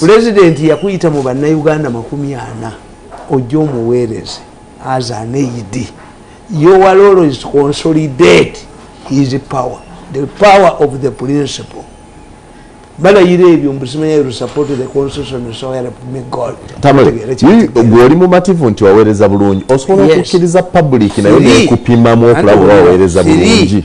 pulezidenti yakuyita mu bannayuganda makumi ana ojja omuweereze as an aid your role is to consolidate his power the power of the principle balayira ebyo mbusimayerusapottheconstitutiongoli mumativu nti waweereza bulungi osobola okukkiriza public naye nekupimamu okulaba owaweereza bulungi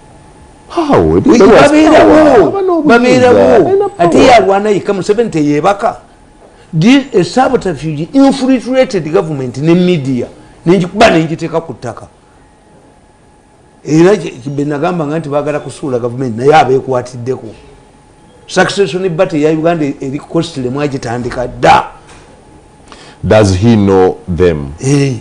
babeerawo ate yalwana yekka museveni teyebaka esabotafug infiltrated government ne media nenjikuba nenjiteeka ku ttaka era benagamba nga nti bagala kusuula gavumenti naye abekwatiddeko succession bate ya uganda eri costly mwagitandika da does he know them hey. Eh.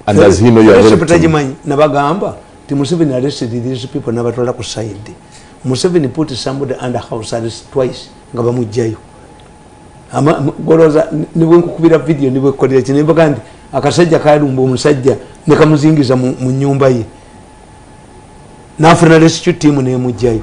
and does he know your victim tajimanyi nabagamba ti museveni arrested these people nabatwala ku side museveni put somebody under house arrest twice nga bamujjayo goloza nibwe nkukubira video nibwe kolera kino mbaga nti akasajja kalumba omusajja nekamuzingiza mu nyumba ye nafuna rescue team nemujjayo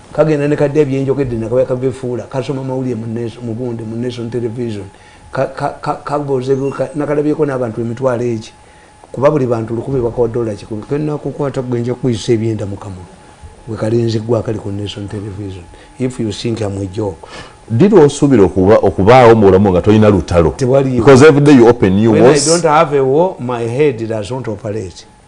kagenda ne kadya byenjogedde nakabya kagefuula kasoma mawulire mugunde mu nation television nakalabyeko n'abantu emitwalo egi kuba buli bantu lukumi bakawa dola kikumi kenakukwata gwenja kuyisa ebyenda mukamulu wekalinzi gwakali ku nation television if you think am a joke did osuubira okubaawo mu bulamu nga tolina lutalo because every day you open new wars. When I don't have a war, my head does not operate.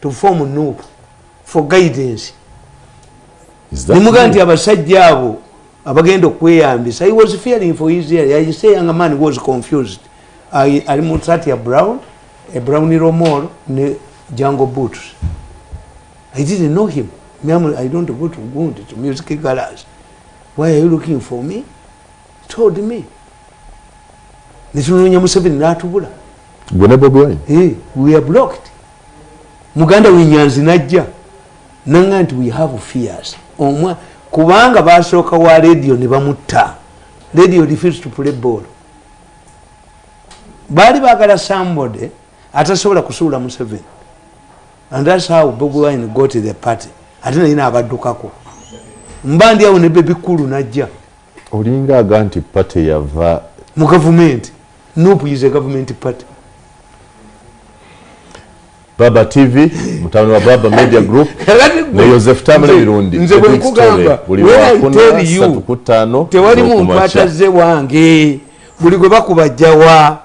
to form nup for guidance nemuga nti abasajja abo abagenda okweyambisa he was fearing for his ear i say young man was confused ali mu sati ya brown a brown romol ne jungle boots i didn't know him Miamu, i don't go to gund to music galas why are you looking for me told me netunoonya museveni natubula gwe ne bobi wine eh, we are blocked muganda wenyanzi najja nanga nti we have fears omwa kubanga basooka wa radio ne bamutta radio refuse to play ball baali bagala somebody atasobola kusuula museveni and thats how bobi wine got the party ate naye naabaddukako mba ndi awo ne bebikulu najja olinga aga nti party yava mu gavumenti nup is a government party baba tv mutabani wa baba media group ne yosefu tamule mirundi nze bwenkugamba tewali muntu atazze wange buli gwe bakubajjawa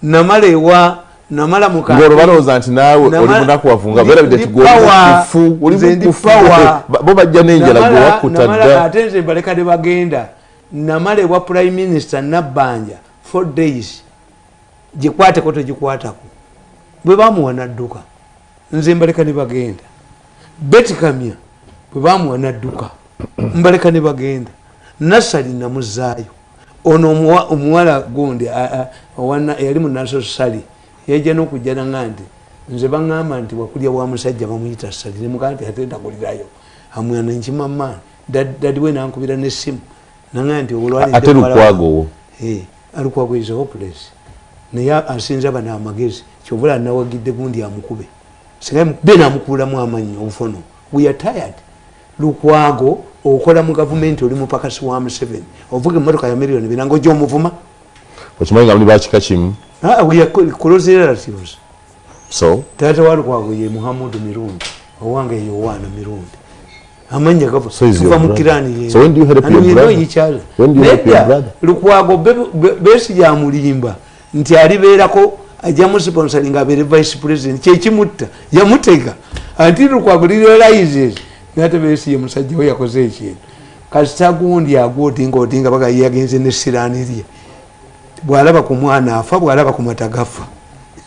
namala ewa namala mukaolowooza nti naawe oli munaku wavunga berabidde tigolifu bo bajja nenjala gwewakuta dda ate nze mbalekade bagenda namala ewa prime minister nabbanja four days gikwateko tegikwatako bwe bamuwa nadduka nze mbaleka ne bagenda betikamya bwe bamuwa nadduka mbaleka ne bagenda nasali namuzaayo ono omuwala gundi yali munaso sali yaija nokujjana nga nti nze baŋamba nti wakulya wa musajja bamuyita sali nemugaa nti ate ndakulirayo amwana nkimama dadiwe nankubira nesimu ate lukwagowo alukwago is hopeless naye asinza bano amagezi kyovula anawagidde gundi amukube singa mukube namukuulamu amanyi obufono we are tired lukwago okola mu gavumenti oli mupakasi wa museveni ovuga emotoka ya miliyoni binanga ojja omuvuma okimanyi nga muli bakika kimu ah, we are close relatives so taata wa lukwago ye muhamudu mirundi owange yowaana mirundi amanya gabo tuva mu kirani ye so when do you help your brother you know when do you help your brother lukwago besi ya mulimba nti ali berako ajja mu sponsoring abere vice president kye kimutta yamutega anti lukwago li realizes nate besi ye musajja we yakoze ekintu kasita gundi agoti ngoti nga bagayi yagenze ne sirani ye bwalaba ku mwana afa bwalaba ku matagafa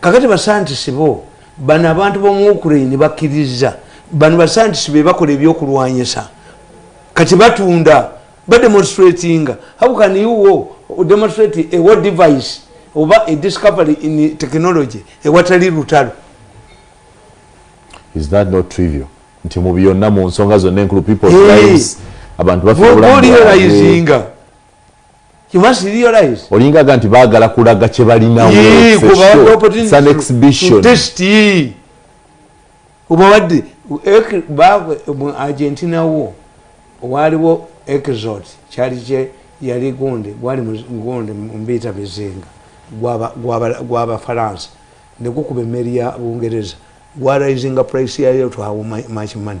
kakati basantisi bo bano abantu bomu ukraine bakkiriza bano basantisi bebakola ebyokulwanyisa kati batunda bademonstratinga how can you wo demonstrate a war device oba a discovery in technology ewatali lutalo is that not trivial nti mu byonna mu nsonga zonna enkulu people's lives abantu bafeolaizinga olinga ga nti bagala kulaga kyebalinaobawadde mu argentina wo waaliwo exot kyali kye yali gunde gwali gunde mumbiita bizinga gwabafaransa negukuba emmeri ya bungereza gwarayizinga price yayo twawo machimani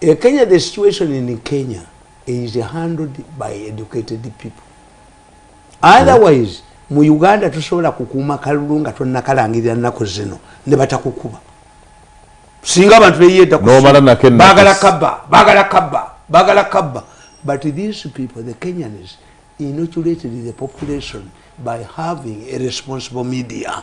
E Kenya, the situation in Kenya is handled by educated people. Otherwise, mu Uganda tusobola kukuuma kalulu nga tonnakalangirira nnaku zino ne batakukuba. Singa abantu beyeeta bagala kabba, bagala kabba, bagala kabba. But these people, the Kenyans, inoculated the population by having a responsible media.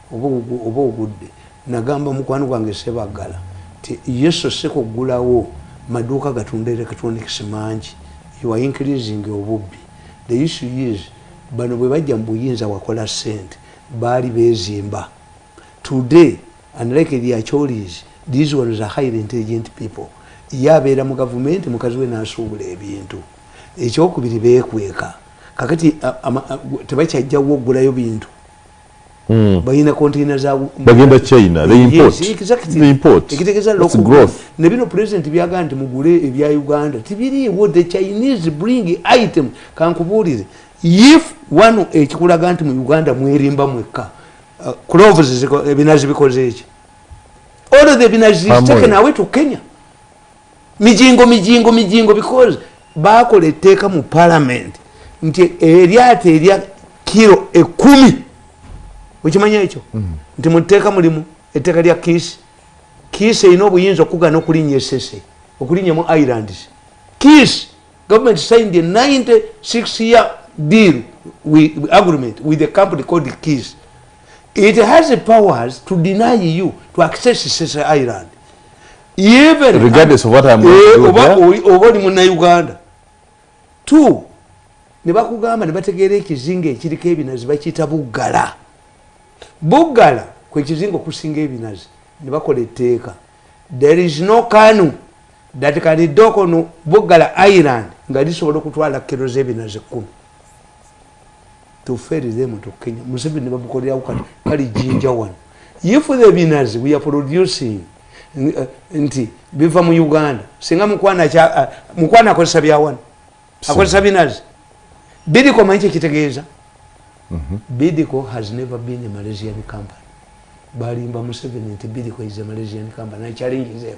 oba ogudde nagamba mukwano gwange sebaggala ti yesu sikuggulawo maduuka gatunda electronics mangi you are increasing obubbi the issue is bano bwe bajja mu buyinza wakola sente baali bezimba today unlike the acholis these ones are highly intelligent people ye abeera mu gavumenti mukazi we nasuubula ebintu ekyokubiri bekweka kakati tebakyajjawo okugulayo bintu Mm. balina containa zagenda china nebino president byaga nti mugule ebya uganda tibiriiwo the chinese bring item kankubuulire if one ekikulaga nti mu uganda mwerimba mwekka uh, cloves ebinazi bikoze eki all the binazi taken away to kenya mijingo mijingo mijingo because bakola etteeka mu palamenti nti eryato erya kiro ekumi okimanya ekyo mm. nti muteeka mulimu etteeka lya kiisi kiisi erina obuyinza okugana okulinnya esese okulinnya mu irelands kiisi government signed a 96 year deal with, agreement with a company called kiisi it has powers to deny you to access sese ireland regardless of what I'm going to do oba oli oba oli muna Uganda two ne bakugamba ne bategeera ekizinga ekiriko ebinazi bakiyita buggala buggala kwe kizinga okusinga ebinazi ne bakola etteeka there is no kanu that can dock on buggala island nga lisobola okutwala kiro z'ebinazi kkumi toferezemutukenya museveni bamukolerawo kati kali jinja wano if the binars we are producing eh, nti biva mu uganda singa mukwana eh, akozesa byawano akozesa binars bidiko manyi kyekitegeeza mhm. bidiko has never been a malaysian company balimba museveni nti bidiko is a malaysian company i challenge them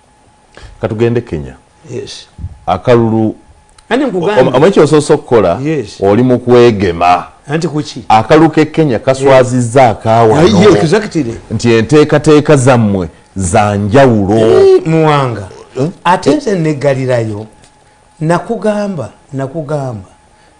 katugende kenya yes akalulu ani nkugamba omwe kyososo kola yes oli mukwegema anti kuki akalulu ke kenya kaswaziza yeah. akawa no yeah, exactly nti enteka teka zamwe zanjawulo eh, muwanga eh? atenze eh? ne galirayo nakugamba nakugamba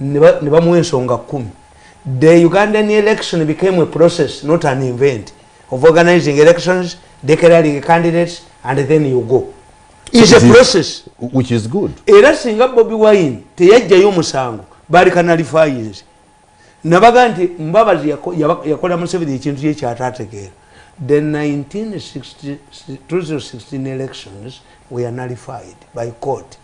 ne bamuwa ensonga kumi the ugandan election became a process not an event of organizing elections declaring candidates and then you go is a process which is good era singa bobi wine teyajjayo omusango bali kanalifayinzi nabaga nti mbabazi yakola museveni ekintu kye kyatategeera the 1916 elections were nullified by court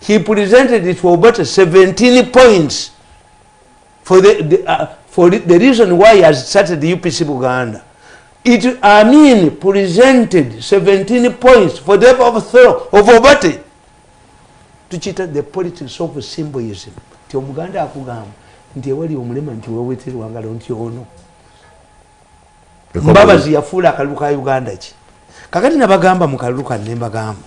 he presented it for about 17 points for the, the, uh, for the reason why he has started the UPC Buganda. It, I mean, presented 17 points for the overthrow of Obate. To cheat the politics of symbolism. Ti omuganda akugamba nti ewali omulema nti weweterwa ngalo nti ono mbabazi yafuula akalulu ka uganda ki kakati nabagamba mu kalulu kano nembagamba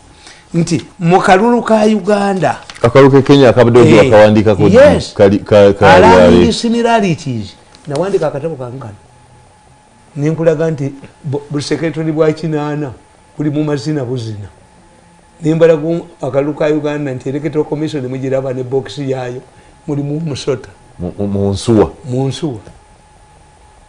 nti mu kalulu ka uganda akalulu kekenya akabaddeakawandiikakoalandi eh, similarities nawandika akatabo kange kano nenkulaga nti busekretary bwa kinaana buli mu mazina buzina nembalaga akalulu ka uganda nti electoral commission mugiraba ne bokisi yaayo mulimu musota munsuwa munsuwa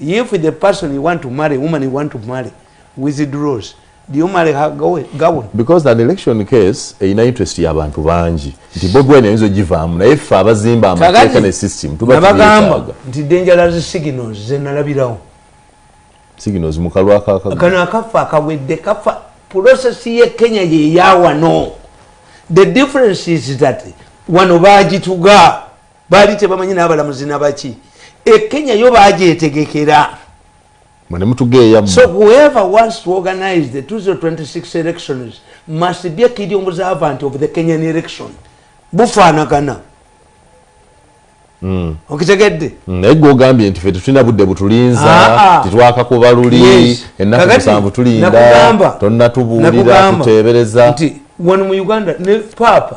if the person you want to marry woman you want to marry withdraws do you marry her go go because that election case ina interest ya bantu banji nti bobi wine yinzo jivamu na ifa abazimba amateka ne system tuba tubagamba nti dangerous signals zenalabirawo signals mukalwa kaka kana akafa akawedde kafa process ye kenya ye yawa no the difference is that wano bajituga baali tebamanyi n'abalamuzi nabaki e kenya yo bagyetegekera so whoever wants to organize the 2026 elections must be a kid observant of the kenyan election bufaanagana hmm. okitegedde hmm, naye gwe ogambye nti fe tetulina budde butulinza ah, ah. titwaka kuba luli ennaku musanvu tulinda tonnatubuulira tuteebereza nti wano mu uganda ne paapa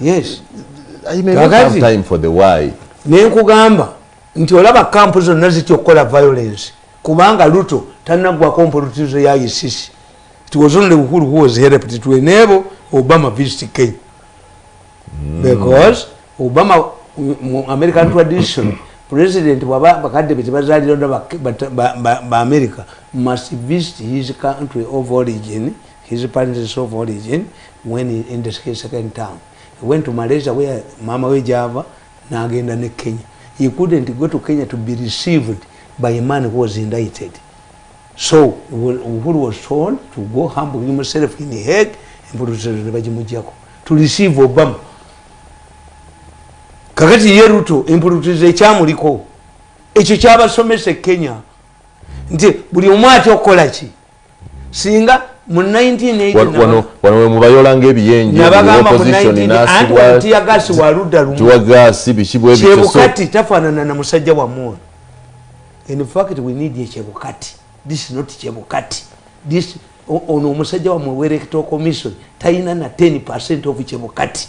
yes nenkugamba nti olaba kampu zonna zitya okukola violence kubanga luto tanagwako mpolutizo ya isisi tiwozonle bukulu huwozhereptitwenebo obama visit kenya hmm. because obama american tradition president bwaba bakadde be tebazalira bamerica must visit his country of origin His parents is of origin when he ended his second term. He went to Malaysia where mama we Java nagenda ne Kenya. He couldn't go to Kenya to be received by a man who was indicted. So Uhuru was told to go humble himself in the head and put himself in the Bajimujako to receive Obama. Kakati ye Ruto empulutiza ekyamuliko ekyo kyabasomesa e Kenya nti buli omwati okukola ki singa mu 1980 wano we mubayola nga ebiyenje nabagamba mu 1980 anti yagasi wa ludda lumu tuwa gasi biki bwe biki chebukati tafanana na musajja wa mwoyo in fact we need a chebukati this is not chebukati this ono omusajja wa mwe werekto commission tayina na 10% of chebukati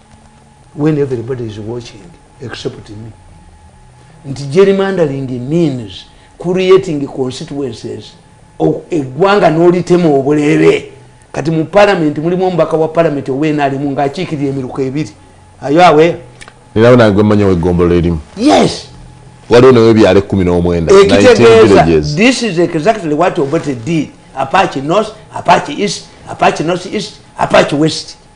when everybody is watching except me nti gerrymandering means creating constituencies eggwanga n'olitema obuleebe kati mu palamenti mulimu omubaka wa palamenti owenalimu ng'akiikirira emiruka ebiri ayo awe nerawo nange manya wegombolola erimu yes waliwo nawe ebyalo ekumi n'omwenda ekitegeeza this is exactly what obote did apachi north apachi east apachi north east apachi west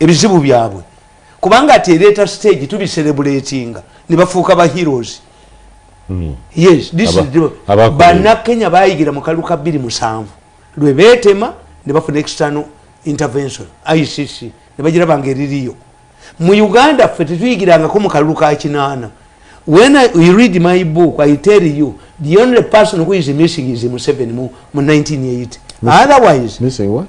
ebizibu byabwe kubanga ati ereeta stage tubiserebuletinga nebafuuka ba heroes hmm. yes banakenya bayigira mu kalu ka bbiri musanvu lwe betema ne bafuna external intervention icc ne bagira bange eririyo mu uganda ffe tetuyigirangako mu kalulu ka kinaana when I, you read my book i tell you the only person who is missing is museven mu, mu 1980 otherwise missing what?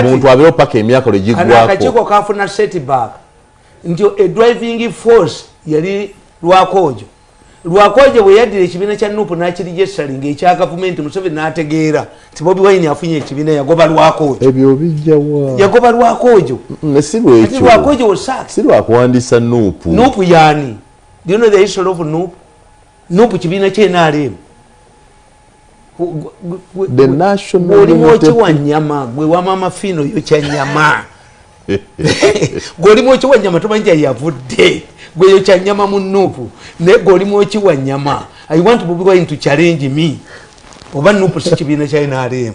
omuntu abeewo paka emyaka lwe gigwakoakakiiko kafuna setback nti edriving force yali lwakoojo lwakoojo bwe yaddira ekibiina kya nup n'akirijesali nga ekya gavumenti museveni n'ategeera nti bobi wayini afunye ekibiina yagoba lwakoojo ebyo bijjawa yagoba lwakoojo mm, si lwekyo lwakoojo osaaki si lwakuwandiisa nup nup yaani do you know the history of nup nup kibiina kye nrm olimu okiwa nyama gwe wamama fiino yo kya nyama gwe olimu okiwa nyama tomanyi kyayavudde gwe yo kya nyama mu nup naye gwe olimu okiwa nyama i want bobi wine to challenge me oba nup si kibiina kya nrm